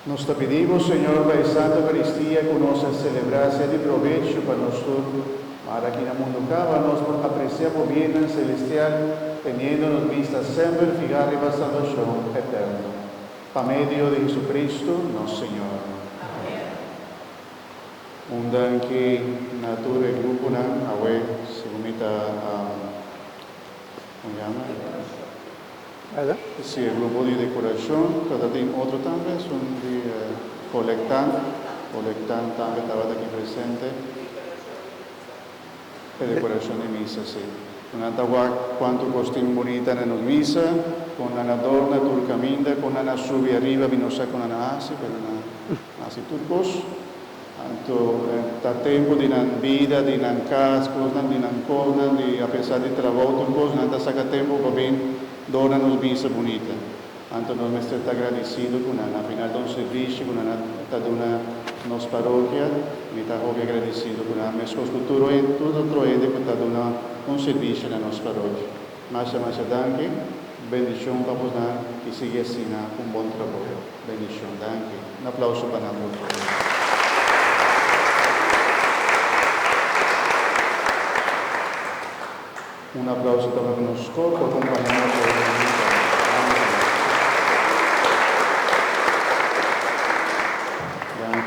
Nos ta pidi bo, Señor, pa e Santa Eucaristía cu nos a celebra sea di provecho pa nos tur, ma ara aki na mundu caba nos por aprecia bo biennan celestial teniendo nos bista semper fiha riba salvacion eterno. Pa medio di Jesucristo nos Señor. Amen. Unda ki na tur e gruponan awe, segun mi ta como yama e Perdon? Si e grupo di decoracion tabata tin otro tambe esun di colectan, colectan tambe tabata aki presente e decoracion di misa si. Nan ta wak cuanto costin bunita na nos misa, con nan a dorna tur caminda, con nan a subi ariba mi no sa con nan a haci pero nan a. Hasi tur kos. Anto ta tempu di nan bida, di nan kas, kosnan di nan kosnan, di apesar di trabou, tur kos nan ta saka tempu pa bin dona nos bista bunita. Anto nos mester ta agradisidu ku nan a final ta un sirbishi ku nan a ta duna nos parokia. Mi ta hopi agradisidu ku nan, meskos ku tur otro hende ku ta duna un sirbishi na nos parokia. Masha masha danki. Bendishon pa bo nan y sigui asina un bon traboyo. Bendishon. Danki. Un aplauso pa nan por favor. Un aplauso tambe pa nos cor por acompaña nos hoy den misa. Danki.